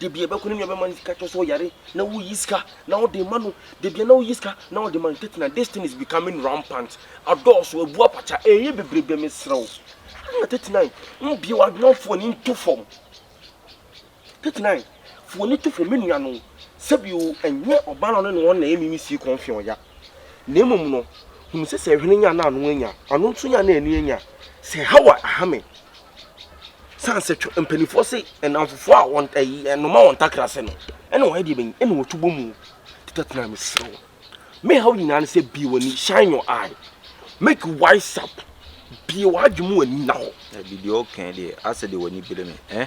Da biara ɛbɛkɔ ne nua bɛma no sika tɔ sɛ ɔyare na woyi sika na wode ma no da biara na woyi sika na wode ma no Tatiana this thing is becoming rampant adɔɔso abu apakya ɛyɛ bebrebe mesrɛ wo ah Tatiana mbue w'adwene mfa w'ani nto fam Tatiana fa w'ani to fam me nua no sɛbi o ɛnyɛ ɔbaa no ne wɔn na ɛyɛ mimi sii kɔn fi ɔya Na mmom no, hunu sɛ sɛ hwene nya na ano anya, ano nso nya na ani anya. Sɛ Hawa aha me. San sɛ twɛ mpanimfoɔ se nnamfofoɔ a wɔn ɛyi nnoma wɔn ntakra ase no ɛna wɔyɛ deɛ bɛnyi ɛna wɔtu bɔ mu. Teta tena mesrɛ wo. Me haw nyinaa ne sɛ bie w'ani shine your eye make wise up bie w'adwene mu ani na hɔ. Ɛbi deɛ ɔɔkɛn deɛ asɛ deɛ w'ani bere me eh.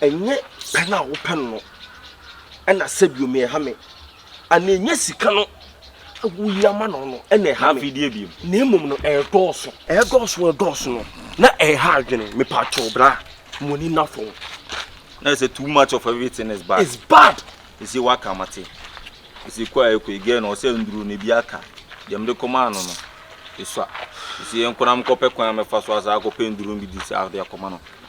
Ɛnyɛ pɛn a wopɛ no no na sɛbio me ɛha me, anaa ɛnyɛ sika no a wohia ma no no na ɛha me, na mmom no ɛredɔɔso. Ɛredɔɔso ɛredɔɔso no na ɛreha adwene, mepakyɛw bra mo ani nna fam. Na ɛsɛ too much of everything is bad. Is bad. Ɛsɛ waka mate, ɛsɛ kɔ a ɛkɔ yi girl no ɔsɛ nduro no ebi aka, deɛ mede kɔmaa no no ɛsua, ɛsɛ yɛnkɔ na menkɔpɛ kwan a mɛfa so asaa akɔpɛ nduro no bi de saa de akɔma no.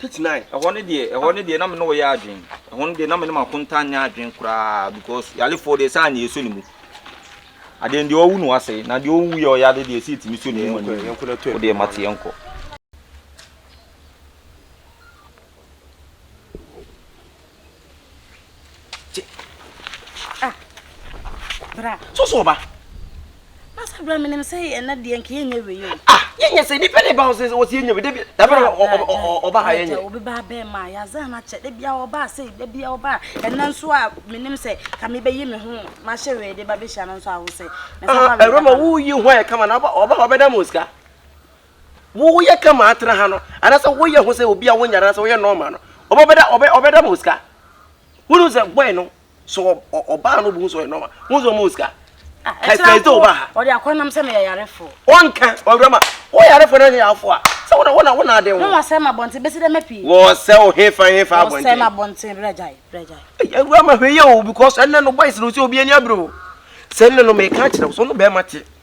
Titenae, ɛhɔ no deɛ, ɛhɔ no deɛ na me ne ɔyɛ adwene. Ɛhɔ no deɛ na me ne m'akonta nyɛ adwene koraa because yalefoɔ deɛ saa na yɛsɔ ne mu. Adeɛ deɛ ɔwu no wasɛe na deɛ ɔwu yɛ ɔyɛ ade deɛ ɛsɛ ɛtumi sɔ ne mu ani. Wodeɛ mate yɛnkɔ. Ah, bra. So so ba. Masa bra me nim sɛ ɛna deɛ nka yɛnyɛ wei o. Ah, yɛnyɛ sɛ nipa ne ba wo sɛ wɔsi yɛnyɛ wei dabi dabi na ɔba ha yɛnyɛ. Obi ba bɛn ma yazan akyɛ dabi a ɔba sɛ dabi a ɔba ɛna nso a me nim sɛ ka me bɛyi me ho ma hyɛ wei de ba bɛhyia no nso awo sɛ. Ah, ɛrɛ ma wo yi ho ayɛ kama na ɔba ɔba ɔbɛda mo sika. Wo woyɛ kama atena ha no anaasɛ woyɛ ho sɛ obi a wonyare anaasɛ woyɛ normal no ɔbɛda ɔbɛ ɔbɛda ma osika. Wonu sɛ boy no so ɔbaa no bu so ɔyɛ normal. Wonu sɛ ɔmo osika. Kɛkɛ sɛ ɔbaa ha. Ɔde akɔ nam sɛ meyɛ yarefo. Ɔnka ɔwura ma wo yarefo na nyɛ yarefo a sɛ wona wona wona aden ho. Na wasɛm abɔnten besi dɛ mɛpi. Wɔsɛ wo hefa hefa abɔnten. Wɔsɛm abɔnten brɛ gyae brɛ gyae. Awura ma hwɛ yɛ o because ɛnɛ no boys no sɛ obi ani abere o. Sɛ ɛnɛ no meka akyerɛ wo sɛ ɔno bɛrima te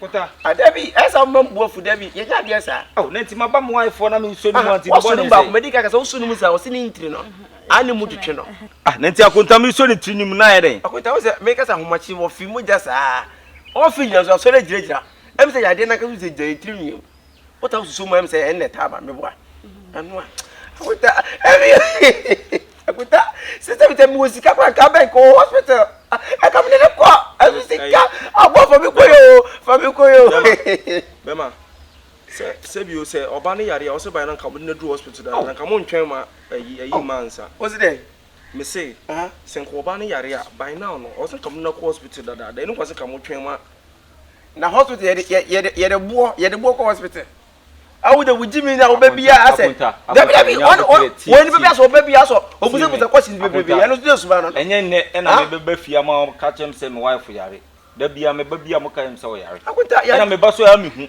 Pota. Ah dabi ayɛ saa mma mbu afu dabi yɛnyɛ adeɛ saa. Oh na nti maba mo wife hɔ na me nsuo no mu a nti ne bɔne sɛn. Woso no mu baako madi kan kasa woso no mu saa ɔse ne ntiri no ah ne mu twetwe no. Ah na nti akonta me nsuo ne tiri no mu na ayɛ dɛn. Akonta wo sɛ me kasa ahomakye wɔ fi mogya saa ɔn fi nyina so asɔre agyina gyina ɛm sɛ yadeɛ nankasa wo sɛ gya yɛ tiri no yɛ mu. wota wo susu mu ɛm sɛ ɛnna ɛtaa ma me boa ɛno a akuta ɛmi akuta sisɛ bisɛ mi wɔ sika kora nka bɛn kɔ hospital ɛka mi nene kɔ ɛso sika abɔ fami kɔ yɛ o fami kɔ yɛ o. bɛma sɛ sɛ bi o sɛ ɔba ne yare a ɔsɛ ban na nka mo de na duru hospital da na nka mo ntwɛn ma ɛyi ɛyi ma nsa. o si dɛ. me se sɛ nka ɔba ne yare a ban na ɔno ɔsɛ nka mo de na kɔ hospital dadaada ɛnu kɔ sɛ nka mo twɛn ma na hospital yɛde yɛ yɛde yɛde boɔ yɛde boɔ kɔ hospital awo de wogye mi na ɔbɛ bia asɛ dabi dabi wɔn wɔn wɔn nipa bi asɔ ɔbɛ bia asɔ obusabusa kɔsi bebrebe ɛno nso de suma no no. ɛnyɛ nnɛ ɛna ah? mebe ba fie ama ka kyerɛ m sɛ me wife yare da bia meba bi a mo ka yɛ m sɛ ɔyare ɛna meba so a mehu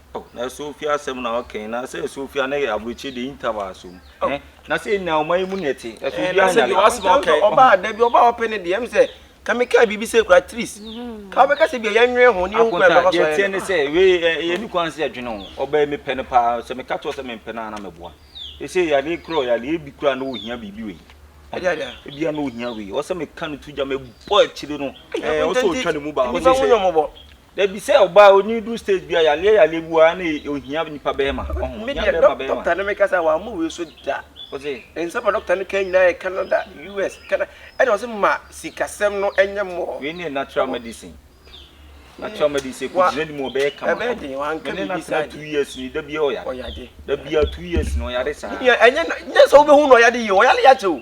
Oh, na ɛsɛ ofie asɛm na ɔkɛn na sɛ ɛsɛ ofie na yɛ aburokyi de interval asom. Oh. Eh, na sɛ nya ɔman yi mu na ɛte. Ɛsɛ eh, obi anya. Na sɛ bi wasɛm ɔkɛn. Ɔba ada bi ɔba ɔpɛ ne deɛ ɛm sɛ ka me kaa biribi sɛ kura tris. Mm-hmm. Ka ɔbɛka sɛ bi a yɛnwene ho ne yɛn kura bɛkɔ so ayɛ. Yɛteɛ ne sɛ wei eh, yɛ ne kwan sɛ ɛdwene ho. Ɔbɛn me pɛ no paa sɛ meka kyerɛ sɛ mempɛ no a na mɛboa. Ɛsɛ yɛade korɔ yɛade ebi kura na ohia biribi wei. Ebia na ohia wei. Ɔsɛ meka no to gya mebɔ akyire no. Ɛɛ ɔsɛ ɔtwa ne mu ba. Ɔsɛ sɛ Dabi sɛ ɔbaa onyin du stage bia yaleɛ yaleɛ bi waa na ohia nipa bɛɛma ɔho ohia bɛɛma bɛɛma. Doctor no me kasa wa mo wei so da. Ɔse. Nsɛm a doctor no kan nyinaa yɛ Canada US Canada ɛna ɔse ma sikasɛm no ɛnyɛ more. Wei ne natural medicine natural medicine kɔ gyina nim ɔbɛyɛ kama. Ɛbɛyɛ den wa nka bibi saa. Mene na tena two years ni dabia ɔyare. Ɔyade. Dabia two years ni ɔyare saa. Ɛnyɛ nyɛ sɛ wobɛhu na ɔyade yie ɔyare yɛ akyɛ o.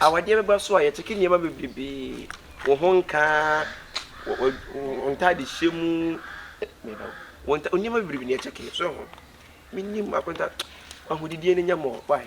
awadeɛ bɛba so a yɛkyɛke nneɛma bebrebee wo ho nkaa wo ntade hyɛ mu nneɛma bebrebe ne yɛkyɛke so ho menim akonta ahodidiɛ no nyɛ mɔ wae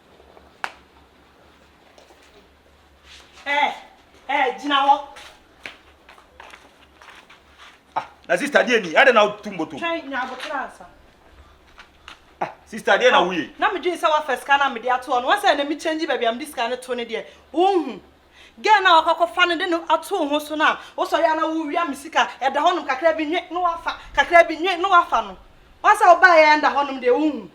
Eh, eh, gyina hɔ. Ah, na sista deɛ ni, adɛ na wotu mbotom? Twɛn nya abotere ansa. Ah, sista deɛ na woyɛ? Na medwene sɛ woafa sika no a mede ato hɔ no, wɔsɛ na mekyɛngye baabi a mede sika no to no deɛ, wonhu. Gɛɛ na wakɔkɔfa no de no ato wo ho so no a, wosɔre a na wowia me sika, ɛda hɔnom kakra bi nwe na wafa, kakra bi nwe na wafa no. Wɔsɛ wobaeɛ a ɛnda hɔnom deɛ, wonhu.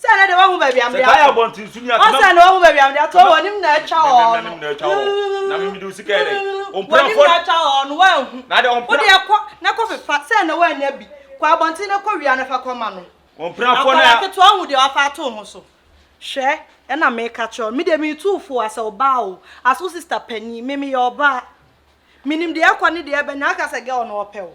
Sɛ na deɛ wahu baabi a mede ato. Sɛ taa yɛ abɔnten so ni a. Ɔsɛ na wahu baabi a mede ato. Wɔnim na atwa hɔ no. Wɔnim na atwa hɔ. Na mimi de wo sika yɛ dɛ. Wɔnim na atwa hɔ no wanhu. Na de ɔmpena. Wodeɛ kɔ na kɔ fefa sɛ na wannya bi. Kɔ abɔnten na kɔ wia na fa kɔma no. Ɔmpena kɔ na. Akwadaa ketewa hu deɛ wafa ato ho so. Hwɛ ɛna meka kyerɛ wo. Me deɛ metu wo fo as ɔbaa o. As wo sister panin. Me meyɛ ɔbaa. Menim deɛ ɛkɔ ne deɛ ɛba nyinaa. Woka sɛ girl no ɔpɛ wo.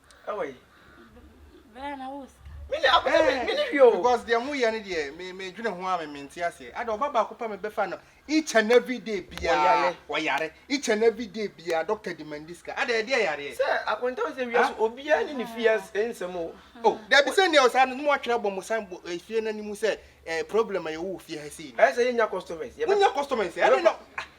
Ɛwɔ yi. Bɛrɛ na wo sika. Mini akɔ sɛ mi mini hwi o. Because deɛ mo yɛ ne deɛ me me dwene ho a me me nte aseɛ. Ada ɔba baako pa me bɛfa no each and every day biara ɔyare each and every day biara doctor demandi sika. Ada ɛdeɛ yareɛ. Sɛ akonta sɛ wia so obiara ne ne fie nsɛm o. Oh dabi sɛ nea ɔsaa no na mo atwerɛ abɔ mo san bɔ efie no anim sɛ eh problem a yɛwɔ wɔ fie ha sei no. Ɛyɛ sɛ yɛnya customers. Monya customers ɛne na.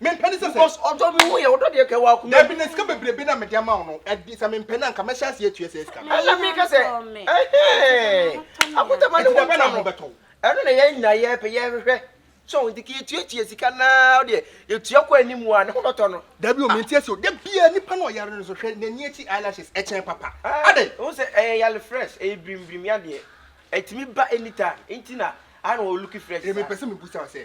mempɛ ne sɛ sɛ because ɔdɔ no ho yɛ ɔdɔ deɛ kɛ wɔ akoma dabi na sika bebrebe na mede ama wo no ɛde sɛ mempɛ no anka mɛhyɛ aseɛ atua sɛ sika no ɛna meka sɛ ɛhɛn akotama ne ho ntɔ no ɛno na yɛn nyinaa yɛpɛ yɛhwehwɛ so nti kɛ yɛtuatua sika naa wodeɛ yɛtua kɔ anim a ne ho bɛtɔ no dabi o ah. menti asi o da biaa nipa no ɔyare no so hwɛ n'ani akyi eyelashes ɛkyɛn papa ah, adɛn wo sɛ ɛyɛ yale fresh ɛyɛ birimbirim yadeɛ ɛtumi ba anytime nti na ana ɔluki fresh saa ɛmepɛ sɛ mebusa sɛ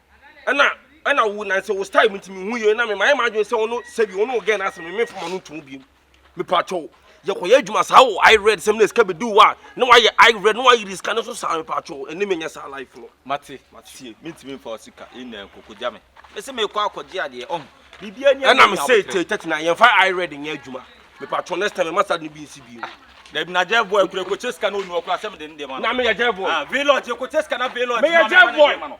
ɛna ɛna wo nansa wo style mi ti mi hu yie na mi ma yɛ ma adwene sɛ wo no sɛbi wo no wo gɛn na asɛm mi fama no ntum bi mi pa atwɛw yɛ kɔ yɛ adwuma saa wo i read sɛm na esika bi di wo a na wa yɛ i read na wa yiri sika no so saa mi pa atwɛw ɛne mi nyɛ saa life no. mate tie mi ti mi nfa osika ina nkoko gya mi mesi mi kɔ akɔgye adeɛ ɔho biribi ani ɛna mi sɛ ete tɛti na yɛn fa i read nyɛ adwuma mi pa atwɛw next time yɛ ma sa de bi nsi bi. dabi na jɛ voɛ kura ekɔ kyɛ sika na onu ɔkura sɛ mi de ne deɛ ma no na mi yɛ jɛ voɛ ah village ekɔ kyɛ sika na village ma mi ma ne deɛ ma no.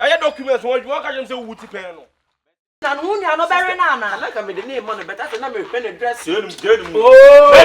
Ɛyɛ documents wɔn adwuma wɔka kyerɛ me sɛ wowu ti pɛn no. Na ne ho nua no bɛwe no anaa. Anaa nka mede no rema no but afei na mehwɛ no address. Jail no mu jail no mu. Ooo.